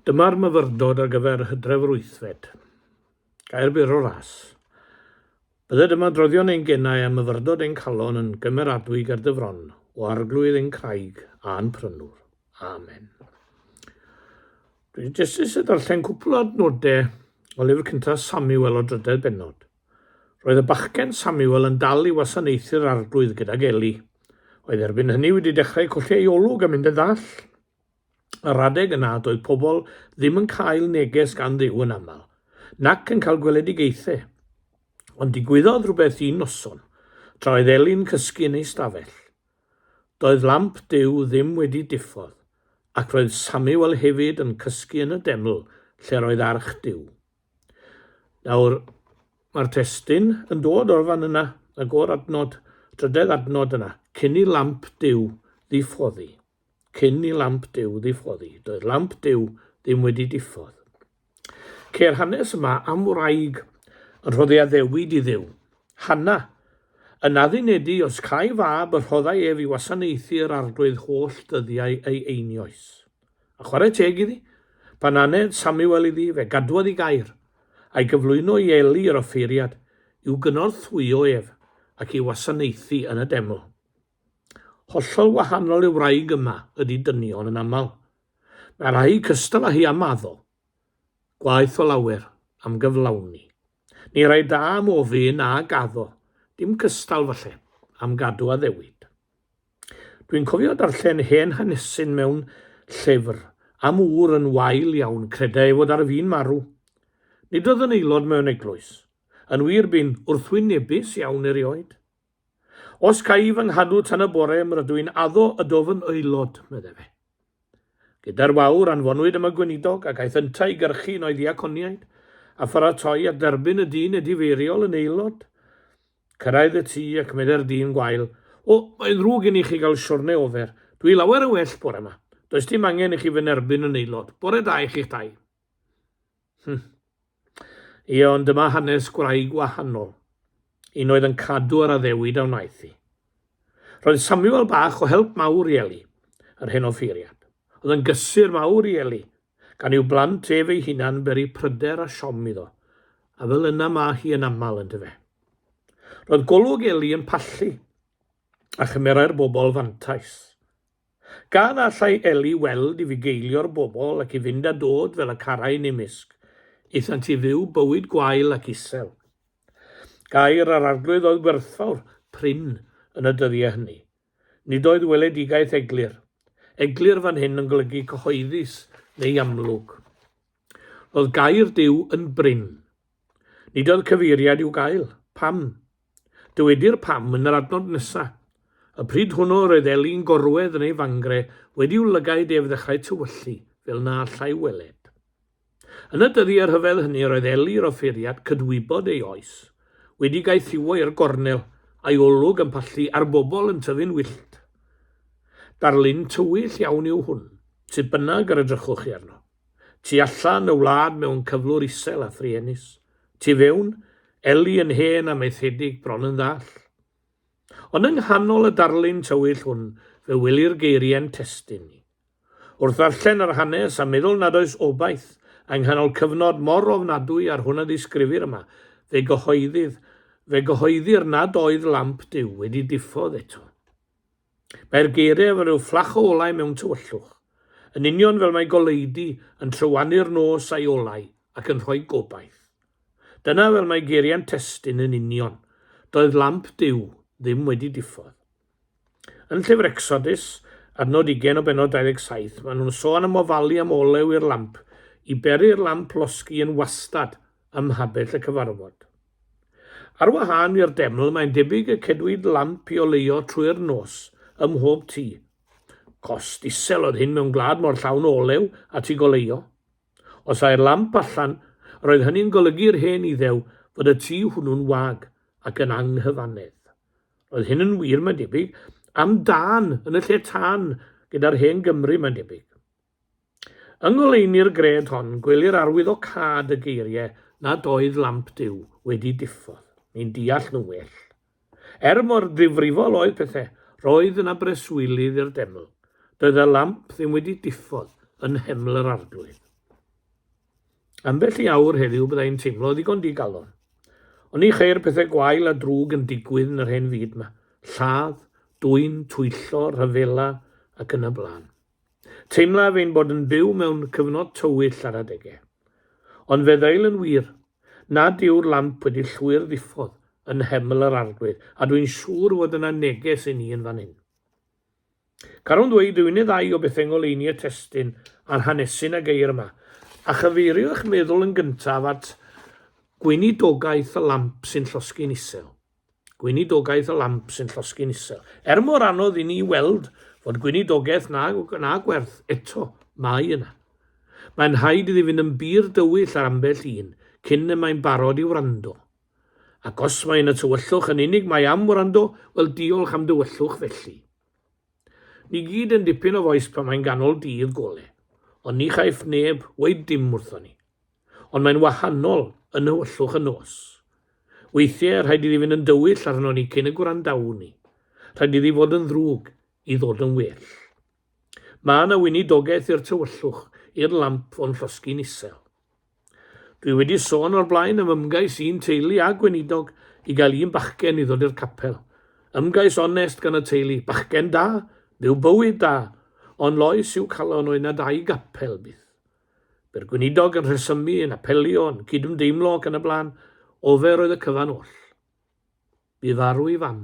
Dyma'r myfyrdod ar gyfer hydref yr wythfed. Gair byr o ras. Bydded yma droddion ein genau a myfyrdod ein calon yn gymeradwy ger dy fron, o arglwydd ein craig a'n prynwr. Amen. Dwi'n jyst eisiau darllen cwpl o adnodau o lyfr cyntaf Samuel o drydedd benod. Roedd y bachgen Samuel yn dal i wasanaethu'r Arglwydd gydag Eli. Oedd erbyn hynny wedi dechrau colli ei olwg a mynd yn ddall. Yr adeg yna doedd pobl ddim yn cael neges gan Dduw yn aml, nac yn cael gweledigaethau. Ond digwyddodd rhywbeth un noson, tra oedd Eli'n cysgu yn ei stafell. Doedd lamp Duw ddim wedi diffodd, ac roedd Samuel hefyd yn cysgu yn y deml lle roedd arch Duw. Nawr, mae'r testyn yn dod o'r fan yna, y gor adnod, trydedd adnod yna, cyn i lamp Duw ddiffoddi. Cyn i lamp Duw ddiffoddi. Doedd lamp Duw ddim wedi diffodd. Ceir hanes yma am wraig yn rhoddi addewid i ddiw. Hanna, yn addunedu os cai fab y rhoddai ef i wasanaethu yr arglwydd holl dyddiau ei einioes. A chwarae teg iddi, pan aned Samuel iddi fe gadwodd i gair, a'i gyflwyno i Eli yr offeiriad, i'w gynorthwyo ef, ac i wasanaethu yn y deml. Hollol wahanol i'r wraig yma ydy dynion yn aml. Mae rhai cystal â hi am addo. Gwaeth o lawer, am gyflawni. Ni rai da am ofyn a gaddo, dim cystal falle, am gadw addewid. Dwi'n cofio darllen hen hanesyn mewn llyfr am ŵr yn wael iawn creda ei fod ar fin marw. Nid oedd yn aelod mewn eglwys. Yn wir bu'n wrthwynebus iawn erioed. Os cai fy nghadw tan y bore, m' rydw i'n addo y dofn aelod, medde fe. Gyda'r wawr, anfonwyd am y gweinidog, ac aeth yntau i gyrchu un o'i ddiaconiaid, a pharatoi at dderbyn y dyn edifeiriol yn aelod. Cyrraedd y tŷ, ac meddai'r dyn gwael, O, mae'n ddrwg i ni chi gael siwrne ofer. Dwi lawer yn well bore 'ma. Does dim angen i chi fy nerbyn yn aelod. Bore da i chi'ch dau. Hmm. Ie, ond dyma hanes gwraig wahanol. Un oedd yn cadw yr addewid a wnaeth hi. Roedd Samuel bach o help mawr i Eli, yr hen offeiriad. Oedd yn gysur mawr i Eli, gan i'w blant ef ei hunan beri pryder a siom iddo, a fel yna mae hi yn aml yn dyfe. Roedd golwg Eli yn pallu, a chymerai'r bobl fantais. Gan allai Ellie weld i fugeilio'r bobl ac i fynd a dod fel y carai'n ei mysg, aethant i fyw bywyd gwael ac isel. Gair yr Arglwydd oedd gwerthfawr, prin, yn y dyddiau hynny. Nid oedd weledigaeth eglur. Eglur fan hyn yn golygu cyhoeddus neu amlwg. Roedd gair Duw yn brin. Nid oedd cyfeiriad i'w gael. Pam? Dywedir pam yn yr adnod nesa. Y pryd hwnnw roedd Eli'n gorwedd yn ei fangre wedi'w lygaid ef ddechrau tywyllu, fel na allai weled. Yn y dyddiau rhyfedd hynny roedd Eli'r offeiriad, cydwybod ei oes, wedi gaethiwo i'r gornel, a'i olwg yn pallu a'r bobl yn tyfu'n wyllt. Darlun tywyll iawn yw hwn, sut bynnag yr edrychwch chi arno. Tu allan, y wlad mewn cyflwr isel a thruenus. Tu fewn, Ellie yn hen a maethedig, bron yn ddall. Ond yng nghanol y darlun tywyll hwn, fe wylir geiriau'n testun ni. Wrth ddarllen yr hanes a meddwl nad oes obaith yng nghanol cyfnod mor ofnadwy â'r hwn a ddisgrifir yma, fe gyhoeddydd, fe gyhoeddir nad oedd lamp Duw wedi diffodd eto. Mae'r geiriau fel rhyw fflach o olau mewn tywyllwch, yn union fel mae goleudy yn trywani'r nos a'i olau ac yn rhoi gobaith. Dyna fel mae geiriau'n testun yn union, doedd lamp Duw ddim wedi diffodd. Yn llyfr Ecsodus, adnod ugain o bennod 27, maen nhw'n sôn am ofalu am olew i'r lamp, i beri'r lamp losgi yn wastad ym mhabell y cyfarfod. Ar wahân i'r deml, mae'n debyg y cedwid lamp i oleuo trwy'r nos ym mhob tŷ. Cost isel oedd hyn mewn gwlad mor llawn o olew at ei goleuo. Os ai'r lamp allan, roedd hynny'n golygu i'r hen Iddew fod y tŷ hwnnw'n wag ac yn anghyfannedd. Roedd hyn yn wir, mae'n debyg, am dân yn y lle tân gyda'r hen Gymry, mae'n debyg. Yng ngoleuni'r gred hon, gwelir arwyddocâd y geiriau nad oedd lamp Duw wedi diffodd, ni'n deall nhw well. Er mor ddifrifol oedd pethau, roedd yna breswylydd i'r deml. Doedd y lamp ddim wedi diffodd yn nheml yr arglwydd. Ambell i awr heddiw byddai'n teimlo ddigon digalon. Ond ni cheir pethau gwael a drwg yn digwydd yn yr hen fyd yma, lladd, dwyn, twyllo, rhyfela ac yn y blaen. Teimlaf ein bod yn byw mewn cyfnod tywyll ar adegau. Ond fe ddeil yn wir, nad yw'r lamp wedi llwyr ddiffodd yn nheml yr Arglwydd, a dwi'n siŵr fod yna neges i ni yn fan hyn. Carwn ddweud y unig ddau o bethau ngoleuni y testun a'r hanesyn a geir yma, a chyfeirio eich meddwl yn gyntaf at gweinidogaeth y lamp sy'n llosgi'n isel. gweinidogaeth y lamp sy'n llosgi'n isel. Er mor anodd i ni weld fod gweinidogaeth na, na gwerth, eto, mae yna. Mae'n rhaid iddi fynd yn bur dywyll ar ambell un cyn y mae'n barod i wrando. Ac os mae yna tywyllwch yn unig mae am wrando, wel diolch am dywyllwch felly. Ni gyd yn dipyn o fois pan mae'n ganol dydd gole, ond ni chaiff neb weud dim wrthon ni. ond mae'n wahanol yn nhywyllwch y nos. Weithiau rhaid iddi fynd yn dywyll arno ni cyn y gwrandawn ni. Rhaid iddi fod yn ddrwg i ddod yn well. Mae yna weinidogaeth i'r tywyllwch, i'r lamp o'n llosgi'n isel. Dwi wedi sôn o'r blaen am ymgais i'n teulu a gweinidog i gael un bachgen i ddod i'r capel. Ymgais onest gan y teulu, bachgen da, byw bywyd da, ond loes i'w calon oedd na dau gapel byth. Bu'r gweinidog yn rhesymu, yn apelio, yn cydymdeimlo ac yn y blaen, ofer oedd y cyfan oll. Bu farw ei fam.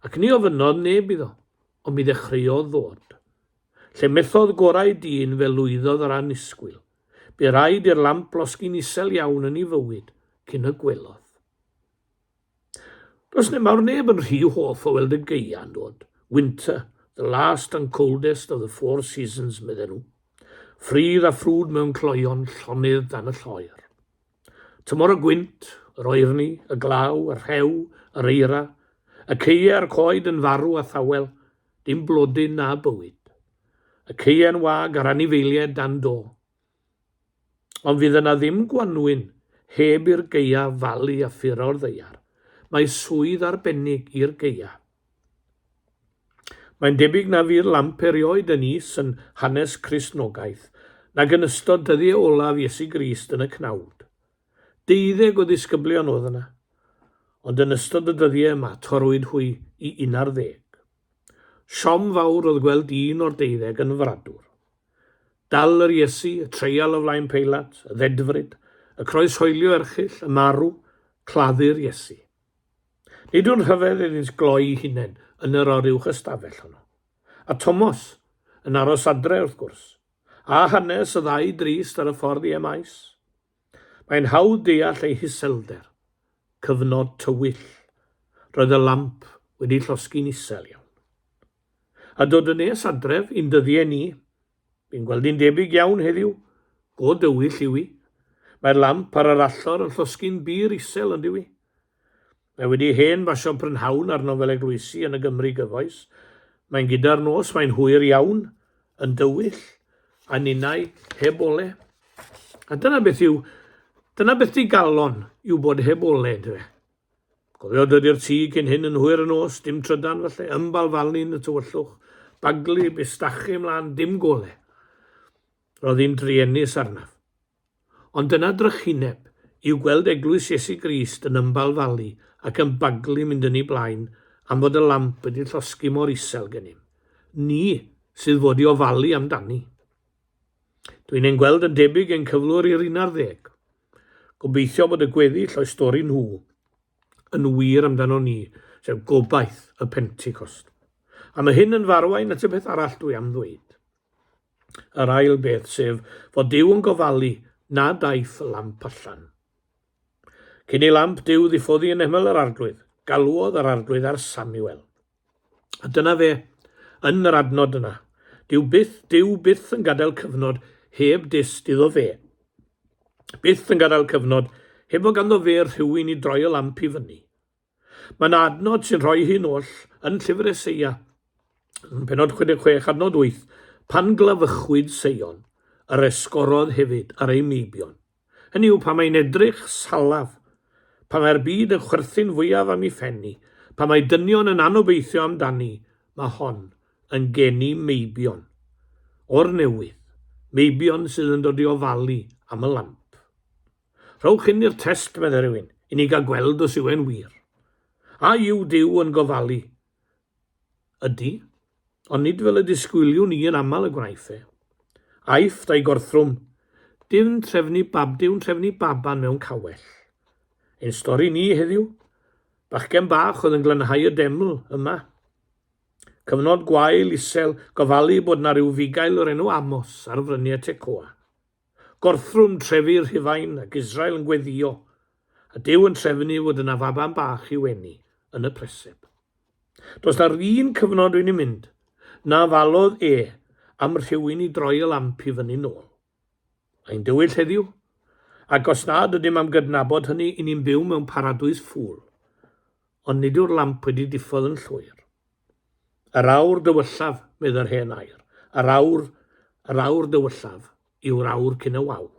Ac ni ofynnodd neb iddo, ond mi ddechreuodd ddod. Lle methodd gorau dyn fe lwyddodd yr annisgwyl. Bu raid i'r lamp losgi'n isel iawn yn ei fywyd cyn y gwelodd. Does neb mawr neb yn rhy hoff o weld y gaeau'n dod. Winter, the last and coldest of the four seasons, medden nhw. Ffridd a ffrwd mewn cloeon, llonydd dan y lloer. Tymor y gwynt, yr oerni, y glaw, y rhew, yr eira, y ceie a'r coed yn farw a thawel, dim blodyn na bywyd. Y ceie'n wag a'r anifeiliaid dan do. Ond fydd yna ddim gwanwyn heb i'r gaea falu a ffuro o'r ddaear. Mae swydd arbennig i'r gaea. Mae'n debyg na fu'r lamp erioed yn is yn hanes Cristnogaeth nag yn ystod dyddiau olaf Iesu Grist yn y cnawd. Deuddeg o ddisgyblion oedd yna, ond yn ystod y dyddiau yma torrwyd hwy i un ar ddeg. Siom fawr oedd gweld un o'r deuddeg yn fradwr. Dal yr Iesu, y treial o flaen Peilat, y ddedfryd, y croeshoelio erchyll, y marw, claddu'r Iesu. Nid yw'n rhyfedd iddynt gloi'i hunain yn yr o'r uwch ystafell honno. A Tomos, yn aros adre wrth gwrs. A hanes y ddau drist ar y ffordd i Emaus. Mae'n hawdd deall ei hiselder. Cyfnod tywyll. Roedd y lamp wedi llosgi'n isel iawn. A dod yn nes adref i'n dyddiau ni, fi'n gweld hi'n debyg iawn heddiw. Go dywyll yw hi. Mae'r lamp ar yr allor yn llosgi'n bur isel, ondiw i? Mae wedi hen basio prynhawn ar nofel eglwysi yn y Gymru gyfoes. Mae'n gyda'r nos, mae'n hwyr iawn, yn dywyll, a ninnau heb ole. A dyna beth yw, dyna beth di galon yw bod heb ole, dwe. Cofio dod i'r tŷ cyn hyn yn hwyr y nos, dim trydan falle, ymbal falni'n y tywyllwch, baglu, bustachu ymlaen, dim gole. Roedd hi'n druenus arnaf. Ond dyna drychineb, yw gweld Eglwys Iesu Grist yn ymbalfalu ac yn baglu mynd yn ei blaen am fod y lamp wedi llosgi mor isel gennym ni sydd fod i ofalu am dani. Dwi'n ein gweld yn debyg ein cyflwr i'r un ar ddeg. Gobeithio bod y gweddill o'i stori nhw yn wir amdano ni, sef gobaith y Pentecost. A mae hyn yn farwain at y peth arall dwi am ddweud. yr ail beth, sef fod Duw yn gofalu nad aeth y lamp allan. Cyn i lamp Duw ddiffoddi yn ymyl yr arglwydd, galwodd yr arglwydd ar Samuel. A dyna fe, yn yr adnod yna. Dyw byth, Dyw byth yn gadael cyfnod heb dyst iddo fe. Byth yn gadael cyfnod heb o ganddo fe rhywun i droi y lamp i fyny. Mae yna adnod sy'n rhoi hyn oll yn Llyfr Eseia, yn penod 66 adnod 8, Pan glyfychwyd Seion, yr esgorodd hefyd ar ei meibion. Hynny yw, pan mae'n edrych salaf, pan mae'r byd yn chwerthin fwyaf am ei phen hi, pan mae dynion yn anobeithio amdani, mae hon yn geni meibion o'r newydd, meibion sydd yn dod i ofalu am y lamp. Rhowch hyn i'r test, meddai rhywun, i ni gael gweld os yw e'n wir. A yw Duw yn gofalu? Ydy, ond nid fel y disgwyliwn ni yn aml y gwnaeth e. Aifft a'i gorthrwm, Dyw'n trefnu bab, dyw'n trefnu baban mewn cawell. Ein stori ni heddiw, bachgen bach oedd yn glanhau y deml yma. Cyfnod gwael, isel, gofalu bod na rhyw fugail o'r enw Amos ar fryniau Tecoa. Gorthrwm trefi Rhufain ac Israel yn gweddïo, a Duw yn trefnu fod yna faban bach i'w eni yn y preseb. Does na'r un cyfnod dwi'n ei mynd, na falodd e am rhywun i droi y lamp i fyny nôl. Ein dywyll heddiw, ac os nad ydym am gydnabod hynny, i ni'n byw mewn paradwys ffŵl. ond nid yw'r lamp wedi diffodd yn llwyr. Yr awr dywyllaf, medd yr hen air, yr awr, yr awr dywyllaf, yw'r awr cyn y wawr.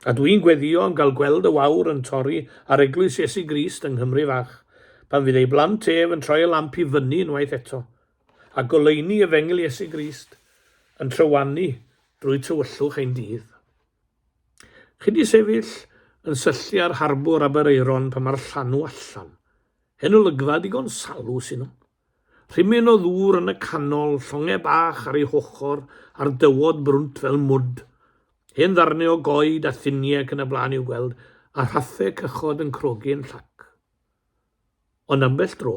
A dw i'n gweddio yn cael gweld y wawr yn torri ar eglwys Iesu Grist yng Nghymru fach, pan fydd ei blant ef yn troi y lamp i fyny unwaith eto, a goleuni efengyl Iesu Grist yn trywanu drwy tywyllwch ein dydd. Chi 'di sefyll yn syllu ar harbwr Aberaeron pan mae'r llanw allan. Hen olygfa digon salw sy' 'no. Rhimyn o ddŵr yn y canol, llongau bach ar ei hochr a'r dywod brwnt fel mwd. Hen ddarnau o goed a thuniau ac yn y blaen i'w gweld, a rhaffau cychod yn crogi yn llac. Ond ambell dro,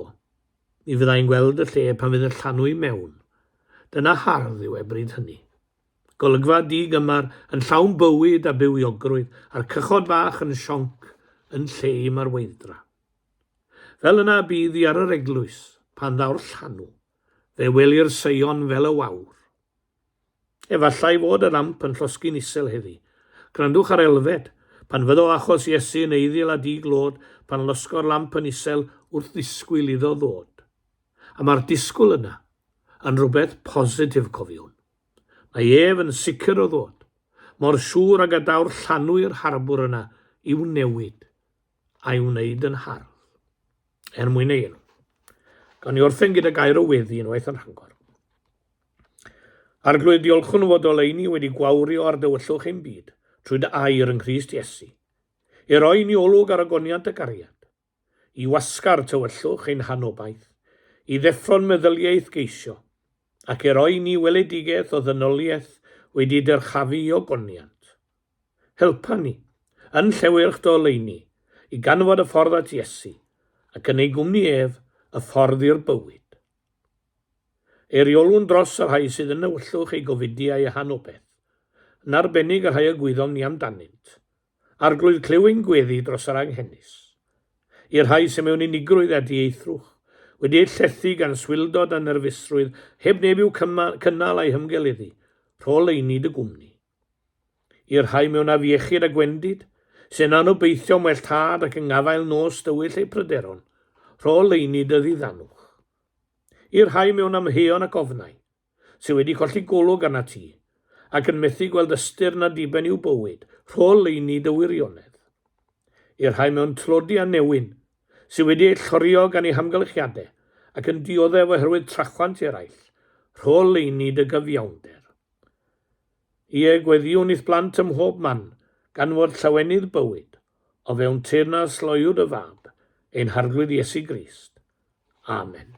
mi fydda i'n gweld y lle pan fydd y llanw i mewn. Dyna hardd yw e bryd hynny. Golygfa di-gymar yn llawn bywyd a bywiogrwydd a'r cychod fach yn sionc yn lle i marweithdra. Fel yna y bydd hi ar yr eglwys, pan ddaw'r llanw, fe welir Seion fel y wawr. Efallai fod y lamp yn llosgi'n isel heddi. Gwrandwch ar elfed, pan fyddo achos Iesu yn eiddil a di-glod, pan losgo'r lamp yn isel wrth ddisgwyl iddo ddod. a mae'r disgwyl yna yn rhywbeth positif cofiwn. Mae ef yn sicr o ddod, mor siŵr ag y daw'r llanw i'r harbwr yna i'w newid, a'i wneud yn hardd. Er mwyn ei enw. Gawn ni orffen gyda gair o weddi unwaith yn rhangor. Arglwydd, diolchwn o fod oleini wedi gwawrio ar dywyllwch ein byd, trwy dy air yng Nghrist Iesu, i roi ni olwg ar agoniant y gariad, i wasgar tywyllwch ein hanobaith, i ddeffro'n meddyliaeth geisio, ac i roi ni weledigaeth o ddynoliaeth wedi dyrchafu i ogoniant. Helpa ni, yn llewyrch dy oleuni, i ganfod y ffordd at Iesu, ac yn ei gwmni ef, y ffordd i'r bywyd. Eiriolwn dros y rhai sydd yn newyllwch eu gofidi a'u hanobaith, yn arbennig y rhai y gwyddom ni amdanynt, Arglwydd clyw ein gweddi dros yr anghenus. I'r rhai sy'n mewn unigrwydd a dieithrwch, wedi eu llethu gan swildod a nerfusrwydd heb neb i'w cynnal a'i hymgeleddu, rho leini dy gwmni. I'r rhai mewn afiechyd a gwendid, sy'n anobeithio am well tad ac yng ngafael nos dywyll eu pryderon, rho leini dy ddiddanwch. I'r rhai mewn amheuon ac ofnau, sydd wedi colli golwg arnat ti, ac yn methu gweld ystyr na diben i'w bywyd, rhol leini dy wirionedd. I'r rhai mewn tlodi a newyn, sydd wedi eu llorio gan eu hamgylchiadau ac yn dioddef oherwydd trachwant eraill, rhol leini dy gyfiawnder. Ie, gweddïwn i'th blant ym mhob man, gan fod llawenydd bywyd, o fewn teyrnas loyw dy fab, ein Harglwydd Iesu Grist. Amen.